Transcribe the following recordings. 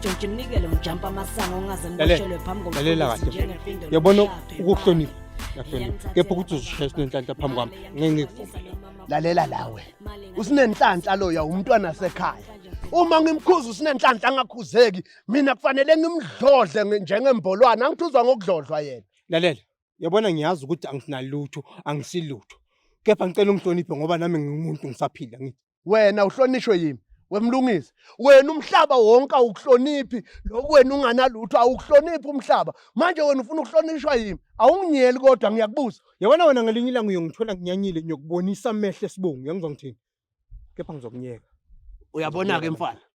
Jojo mnikele mjampa amasango ungaze niboshelwe phambi komfundisi njengepindolo. Yabona ukuhlonipha. Yahlonipha. Kepha ukuthi uzishayisa nenhlanhla phambi kwami ngeke ngikuvumele. Lalela lawe. Usinenhlanhla lo ya umntwana sekhaya. Uma ngimkhuza usinenhlanhla angakhuzeki, mina kufanele ngimdlodle njengembolwana, angithuzwa ngokudlodlwa yena. Lalela. Yabona ngiyazi ukuthi angisinalutho, angisilutho. Kepha ngicela ungihloniphe ngoba nami ngingumuntu ngisaphila ngithi. wena uhlonishwe yimi wemlungisi wena umhlaba wonke awukuhloniphi lokhu wena unganalutho awukuhloniphi umhlaba manje wena ufuna ukuhlonishwa yimi awunginyeli kodwa ngiyakubuza yabona wena ngelinye ilanga uyongithola nginyanyile ngiyokubonisa amehlo esibongo uyangizwa ngithini kepha ngizokunyeka uyabona-ke mfana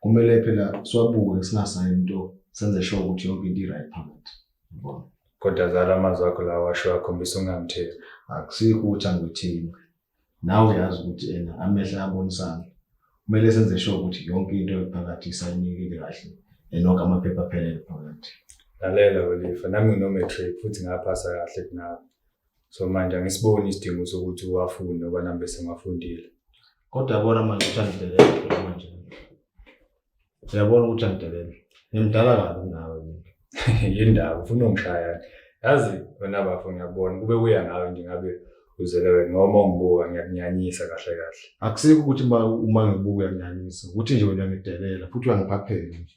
kumele phela siwabuke singasayi into senze sure ukuthi yonke into i-right phakathi yabona kodwa zala amazwi akho lawa washo akhombisa ungamtheli akusikho ukuthi angithini nawe uyazi ukuthi ena amehla abonisana kumele senze sure ukuthi yonke into ephakathi isayinekile kahle enonke amaphepha aphelele phakathi lalela welifa nami nginomatric futhi ngaphasa kahle kunawe so manje angisiboni isidingo sokuthi uwafunde ngoba nami bese ngafundile kodwa yabona manje ukuthi angidelela phela manje uyabona ukuthi angidelela ngimdala kabi nawe yindaba ufuna ungishaya yazi wena bafo ngiyakubona kube kuya ngawe nje ngabe uzele wena noma ungibuka ngiyakunyanyisa kahle kahle akusikho ukuthi uma ngibuka uyakunyanyisa ukuthi nje wena ngidelela futhi uyangiphaphela nje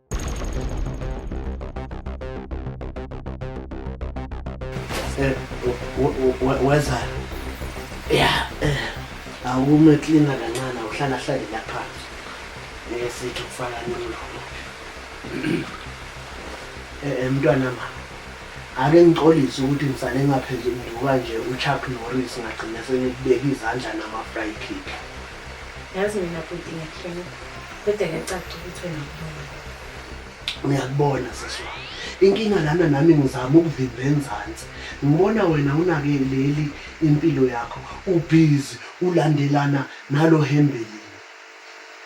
Eh, weza ya eh, awume klina kancane awuhlala hlale lapha esithi kufaka nini eh, eh mntwana ma ake ngixolise ukuthi ngisale ngaphenduka nje uchuck norris ngagcina sengikubeka izandla nama-fry kick yazi mina bhuti ngiyahleka kodwa kuyacaca ukuthi wena ubona uyakubona sisi wami inkinga lana nami ngizama ukuvimba enzansi ngibona wena unake leli impilo yakho ubhizi ulandelana nalo hembelini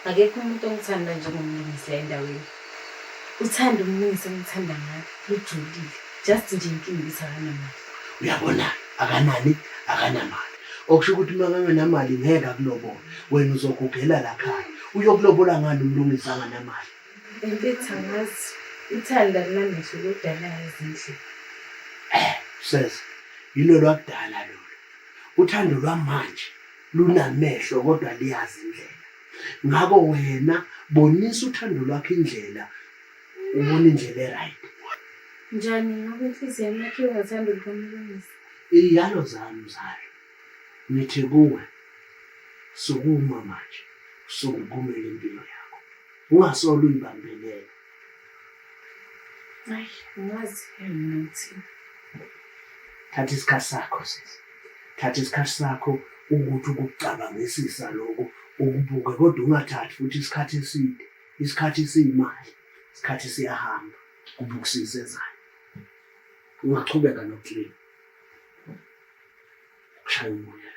akekho umuntu ongithanda njengomlungisi la endaweni uthanda umnisi omthanda ngayo lujulile just nje inkinga ukuthi akanamali uyabona akanani akanamali okusho ukuthi uma kangenamali ngeke akulobola wena uzogugela lakhaya uyokulobola ngani umlungisi anganamali emfethu angazi ithanda linamehlo lodalayo ezindlini eh sesa yilo lwakudala lolo uthando lwamanje lunamehlo kodwa liyazi indlela ngakho wena bonisa uthando lwakho indlela ubona indlela eright njani ngoba inhliziyo yami yakhe ingathanda ukumlungisa iyalo zami mzali ngithi kuwe sukuma manje usungukumele impilo yakho ungasolo uyibambelela Ay, ngazi ke mina ukuthi thatha isikhathi sakho sisi thatha isikhathi sakho ukuthi ukucabangisisa lokho ukubuke kodwa ungathathi futhi isikhathi eside isikhathi siyimali isikhathi siyahamba kubukisise ezayo ungachubeka noklin kushaya umoya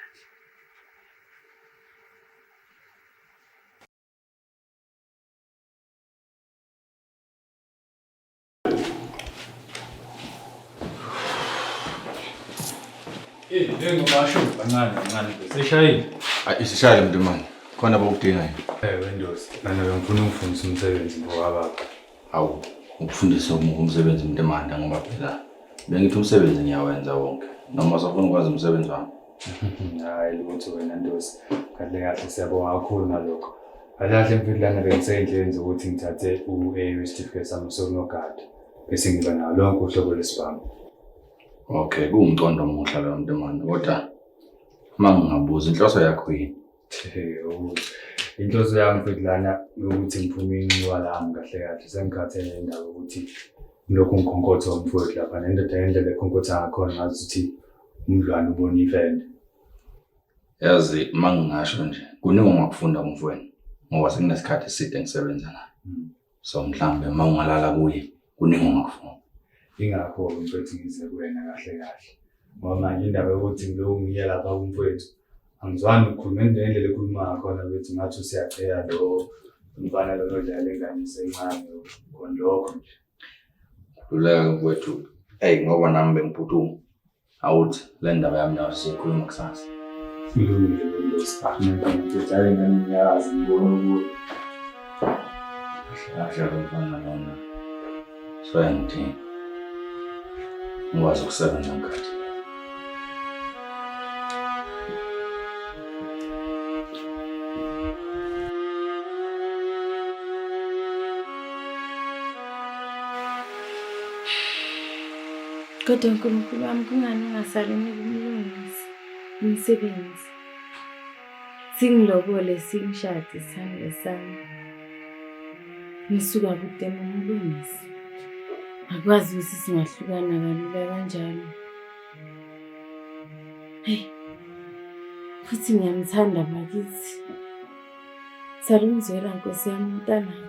Eh, lengo basho kancane kancane. Sishayile. Ayi isishayile mntu manje. Khona bokudingayo. Eh, Windows. Nana ngifuna ukufundisa umsebenzi ngowababa. Hawu, ukufundisa umuntu umsebenzi mntu emanda ngoba phela bengithi umsebenzi ngiyawenza wonke. Noma usafuna ukwazi umsebenzi wami. hayi lutho wena ndosi kahle kahle siyabonga kakhulu nalokho kahle kahle mfilana bengiseyindleleni zokuthi ngithathe u-a certificate sami sokunogada bese ngiba nawo lonke uhlobo lesibhamu okay kuwumqondo omuhle loyo mntu mani kodwa uma ngingabuza inhloso yakho yini inhloso yami mfilana ukuthi ngiphume inxiwa lami kahle kahle sengikhathele indaba ukuthi lokhu ngikhonkotha umfowethu lapha nendoda ngendlela ekhonkotha ngakhona ngazi ukuthi umdlwane ubona ifende yazi uma ngingasho nje kuningi ongakufunda kumfweni ngoba sekunesikhathi eside ngisebenza naye hmm. so mhlawumbe uma ungalala kuye kuningi ongakufunda ingakho mfethu ngize kuwena kahle kahle ngoba manje indaba yokuthi ngibe ungiye lapha kumfwethu angizwani ukukhuluma ngendlela ekhuluma ngakhona bethu ngathi usiyacheya lo mfana lona odlala engane isencane khona lokho nje Luleka mfowethu. Eyi ngoba nami bengiphuthume. Awuthi le ndaba yami nawe siyikhuluma kusasa. Ilungile le nto sibhamela ngididale ngani ngiyazi ngibona ukuthi kahle kahle mfana lona. Soya ngithini? Ngikwazi ukusebenza ngikhathi. Kodwa Nkulunkulu wami kungani ungasaliniki umlungisi umsebenzi? singilobole singishade isithando sami ngisuka kude ngomlungisi akwazi ukuthi singahlukana kalula kanjalo heyi futhi ngiyamthanda bakithi salungizwela nkosi yami umntanakho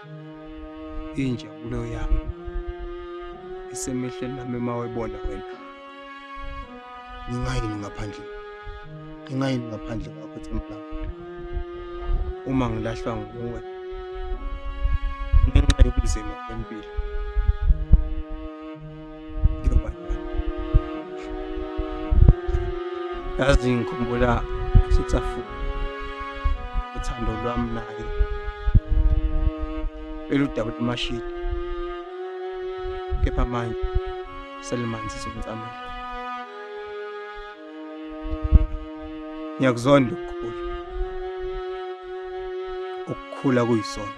injabulo yami isemehlweni lami uma webona wena ngingayini ngaphandle ngingayini ngaphandle kwakho themba uma ngilahlwa nguwe ngenxa yobunzima bempilo yazi ngikhumbula sitsafu uthando lwami naye beludabula amashidi kepha manje selimanzi somtsamela ngiyakuzonda ukukhula ukukhula kuyisona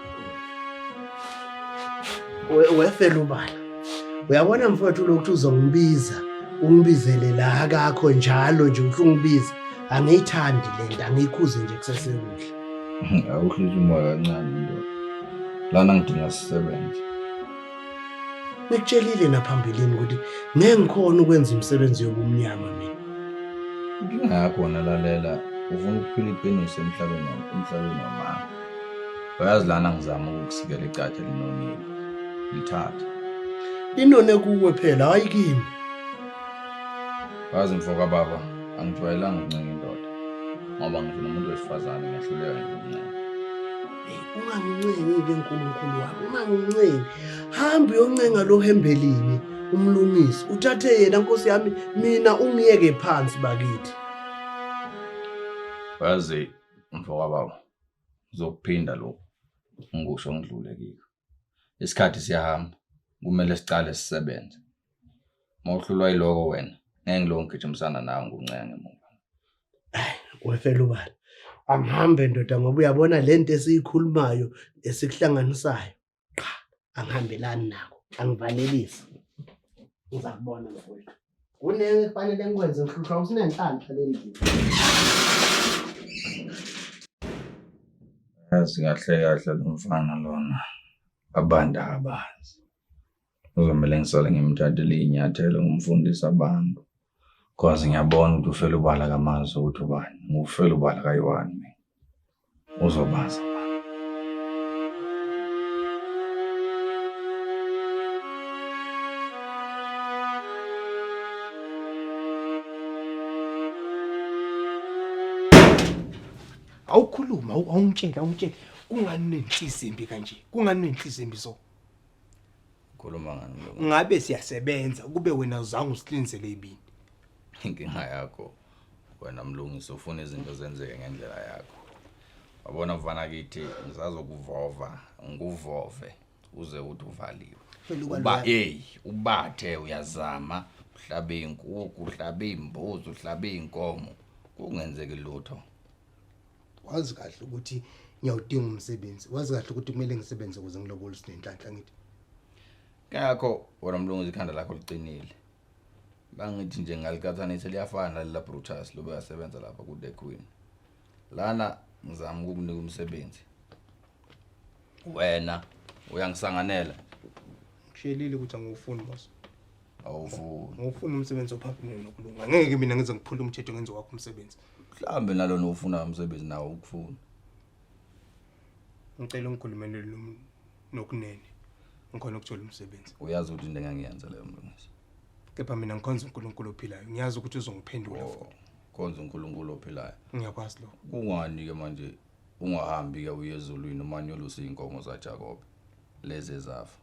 wefela ubala uyabona mfowethu lokhu uzongibiza ungibizele la kakho njalo nje uthi ungibize angiyithandi le nto angiyikhuze nje kusesekuhle awuhlisa umoya kancane nto lana ngidinga sisebenze ngikutshelile naphambilini ukuthi ngeke ngikhona ukwenza imisebenzi yobumnyama mina inkinga yakho wona lalela ufuna ukuphila iqiniso emhlabeni emhlabeni wamanga uyazi lana ngizama ukukusikela icatha linonile lithathe inone kuwe phela hayi kimi wazi mfo kababa angijwayelanga ukuncenga indoda ngoba ngisho nomuntu wesifazane ngiyahluleka ngikuncenga ungangincengi-ke nkulunkulu wami ungangincengi hambe uyoncenga lo hembelini umlungisi uthathe yena nkosi yami mina ungiyeke phansi bakithi wazi mfo kababa uzokuphinda lokhu ngikusho ngidlule kikho isikhathi siyahamba kumele siqale sisebenze uma uhlulwa yiloko wena ngeke ngiloko ngigijimisana nawe nguncenga ngemuva wefela ubala angihambe ndoda ngoba uyabona le nto esiyikhulumayo esikuhlanganisayo qha angihambelani nako angivalelisi uza kubona mfowethu kuneke kufanele ngikwenze ngihlushwa usinenhlanhla le ndini yazi kahle kahle lo mfana lona abantu abazi Kuzomele ngisale ngimthathele iy'nyathelo ngimfundise abantu cause ngiyabona ukuthi ufela ubala kamazi ukuthi ubani ngufela ubala kayiwani mina uzobaza awukhuluma awungitsheli awungitsheli kungani nenhliziyo embi kanje kungani nenhliziyo embi so ukhuluma ngani mlungu ngabe siyasebenza kube wena uzange usiqinisele ibini inkinga yakho wena mlungisi ufuna izinto zenzeke ngendlela yakho wabona mfana kithi ngisazokuvova ngikuvove uze uthi uvaliwe Phela uba uba lwa- eyi ubathe uyazama uhlabe iy'nkukhu uhlabe iy'mbuzi uhlabe iy'nkomo kungenzeki lutho wazi kahle ukuthi ngiyawudinga umsebenzi wazi kahle ukuthi kumele ngisebenze ukuze ngilobole sinenhlanhla ngithi ngakho wena mlunguzi ikhanda lakho liqinile bangithi nje ngalikathanise liyafana lalela brutus lobe yasebenza lapha ku-the queen lana ngizama ukukunika umsebenzi wena uyangisanganela ngishelile ukuthi angiwufuni boss awuvuni ngifuna umsebenzi ophaphile nokulunga ngeke mina ngize ngiphule umthetho ngenze wakho umsebenzi mhlambe nalona ufuna umsebenzi nawo ukufuna ngicela ungikhulumele lo muntu nokunene ngikhona ukuthola umsebenzi uyazi ukuthi into engangiyenza leyo mlungisi kepha mina ngikhonza uNkulunkulu ophilayo ngiyazi ukuthi uzongiphendula Oh, futhi khonza uNkulunkulu ophilayo ngiyakwazi lokho kungani ke manje ungahambi ke uye ezulwini umanyolusa izinkomo zaJakobe lezi ezafa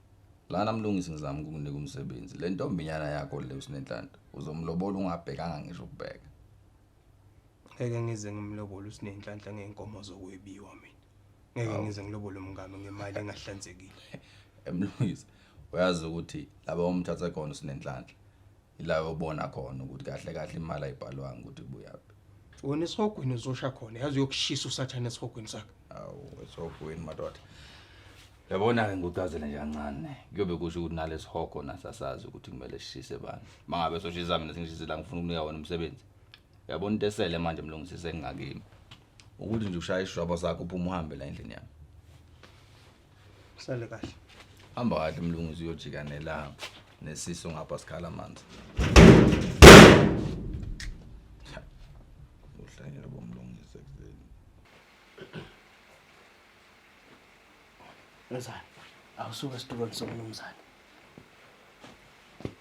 Lana mlungisi ngizama ukukunika umsebenzi. Le ntombinyana yakho le usinenhlanhla. Uzomlobola ungabhekanga ngisho ukubheka. Ngeke ngize ngimlobole usinenhlanhla ngeenkomo zokwebiwa mina. Ngeke ngize ngilobole umngame ngemali engahlanzekile. Emlungisi uyazi ukuthi laba omthatha khona usinenhlanhla. ila yobona khona ukuthi kahle kahle imali ayibhalwanga ukuthi ibuyaphi wena esihogweni uzosha khona yazi uyokushisa usathane esihogweni sakhe awu esihogweni madoda yabona-ke ngikucazele nje kancane kuyobe kusho ukuthi nalesihogo nasasazi ukuthi kumele sishise bani uma ngabe soshisa mina sengishise la ngifuna ukunika wona umsebenzi yabona into esele manje mlungisise engingakimi ukuthi nje ushaya isishwabo sakho uphuma uhambe la endlini yami Sale kahle. Hamba kahle mlunguzi uyojika nelanga nesiso ngapha sikhala amanzi. Uhlanyela bomlungisa kuzeni. Mzane, awusuke esitulweni somnumzane.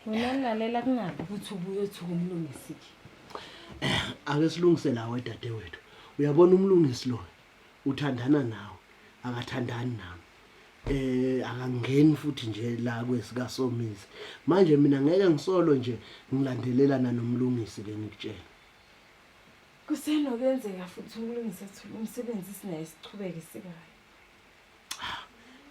Wena nilalela kungabi ukuthi ubuye othuka umlungisi. Ake silungise nawe dadewethu. Uyabona umlungisi lo uthandana nawe akathandani nami eh akangeni futhi nje la kwesika somizi manje mina ngeke ngisolo nje ngilandelelana nomlungisi ke ngikutshela kusenokwenzeka futhi umlungisi athule umsebenzi sinaye sichubeke sikayo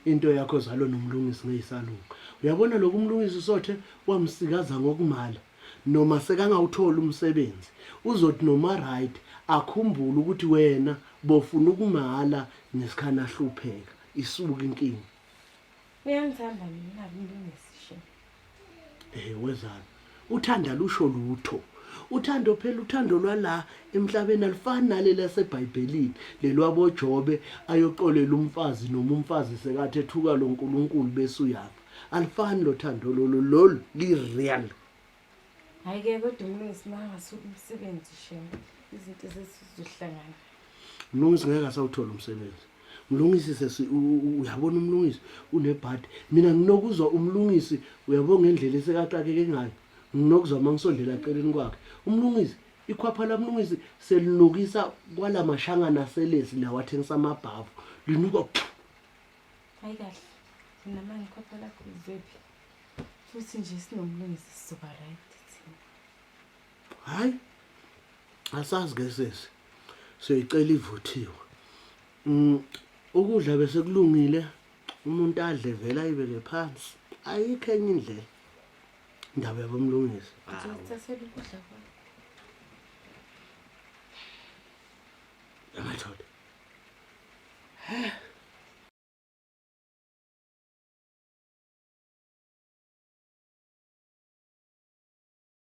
into yakho zalo nomlungisi ngeyisalunga uyabona lokhu umlungisi usothe wamsikaza ngokumala noma sekangawuthola umsebenzi uzothi noma right akhumbule ukuthi wena bofuna ukumala nesikhani ahlupheka isuka inkinga uyangithanda mina umlungisi Eh wezani? Uthando alusho lutho. Uthando phela uthando lwala emhlabeni alifani naleli laseBhayibhelini lelwaboJobe ayoxolela umfazi noma umfazi sekathi ethuka lo Nkulunkulu bese uyafa. Alifani lo thando lolu lolu li real. Hayi ke kodwa umlungisi makasuka umsebenzi shem. Izinto zesizohlangana. Mlungisi ngeke asawuthola umsebenzi. mlungisi sesi uyabona umlungisi unebhadi mina nginokuzwa umlungisi uyabo ngendlela esekaxakeke ngayo nginokuzwa uma ngisondela eceleni kwakhe umlungisi ikhwapha lamlungisi selinukisa kwala mashangana aselesi lawa athengisa amabhavu linuka hayi kahle mina manje ikhwapha lakho lizephi futhi nje sinomlungisi sizoba right thina hayi asazi ke sesi siyoyicela ivuthiwe mm, ukudla bese kulungile umuntu adle vele ayibeke phansi ayikho enye indlela indaba yabomlungisi amathole